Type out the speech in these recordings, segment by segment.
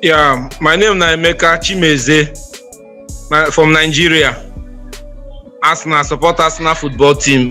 Yeah, my name na Emeka Chimeze my, from Nigeria. Arsenal support Arsenal football team.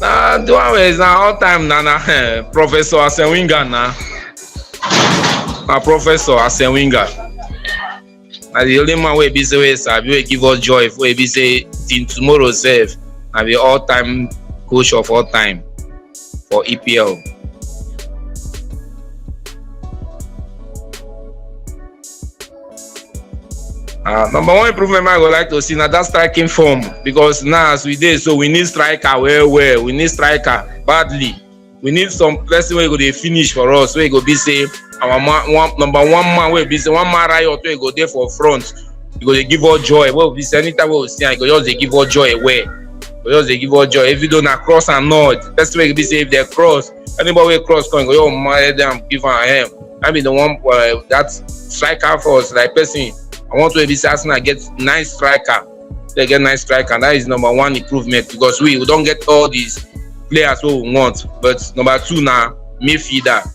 na the one wey is na all time na na eh, professor asenwinga na na professor asenwinga na the only man wey be say wey sabi wey give us joy wey be say till tomorrow sef na be all time coach of all time for epl. Uh, number one improvement I would like to see now that striking form because now as we did, so we need striker well, well, we need striker badly. We need some person where go they finish for us, where go be say our man, one, number one man where be say one man riot where go there for front because they give all joy. Well, this anytime we see, I go just they give all joy away. Because they give all joy. If you don't cross and nod, that's why they say if they cross, Anybody wey cross come, go, yo, my damn, give her a hand. I mean, the one uh, that striker for us, like person. I want to be Arsenal get nice striker. They get nice striker, and that is number one improvement because we, we don't get all these players who we want. But number two now, midfielder.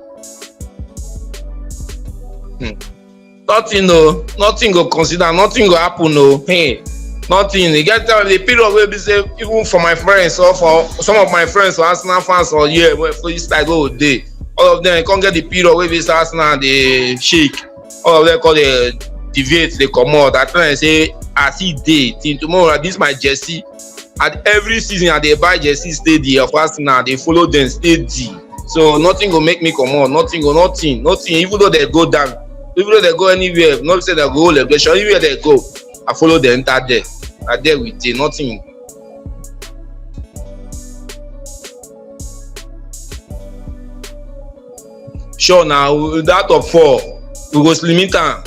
Hmm. Nothing no, nothing go consider, nothing go happen no. Hey, nothing. You get time the period where be say even for my friends or for some of my friends for Arsenal fans or yeah, well, for this like oh day, all of them come get the period where be say Arsenal they shake, all of them call the deviate they come out. I try and say as he day till tomorrow this my jersey and every season i dey buy jersey steady of arsenal i dey follow dem steady so nothing go make me comot nothing go nothing nothing even though dem go down even though dem go anywhere no be say dem go hold elevation anywhere dem go i follow dem enter there na there we dey nothing sure na out of four we go limit am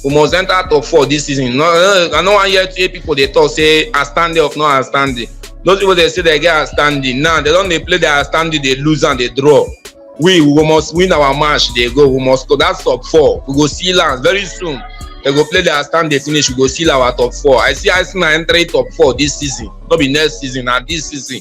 we must enter out of four this season no i no wan hear three people dey talk say outstanding of no outstanding those people dey say they get outstanding now they don dey play their outstanding dey lose and dey draw we we must win our match dey go we must go that's top four we go seal am very soon they go play their outstanding finish we go seal our top four i see arsenal entering top four this season no be next season na this season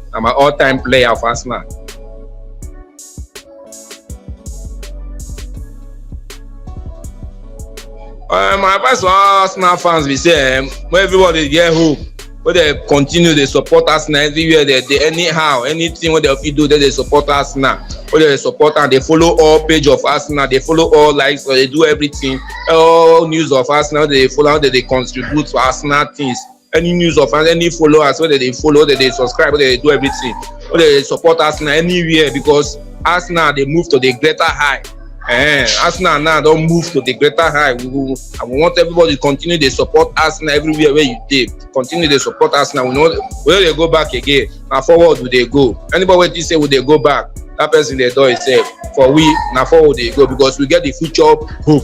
na my all time player for arsenal. Uh, my advice for all arsenal fans be say um, make everybody get hope wey dey continue dey support arsenal everywhere dey dey anyhow anything wey dem fit do dey dey support arsenal wey dey support am dey follow all page of arsenal dey follow all likes or dey do everything all news of arsenal dey follow am dey dey contribute to arsenal things any news of us any followers wey dey dey follow dey dey subscribe wey dey dey do everything wey dey dey support arsenal anywhere because arsenal dey move to the greater high eh arsenal now don move to the greater high we go i go want everybody continue dey support arsenal everywhere wey you dey continue dey support arsenal we no we no dey go back again na forward we dey go anybody wey think say we dey go back that person dey dull himself for we na forward we dey go because we get the future hope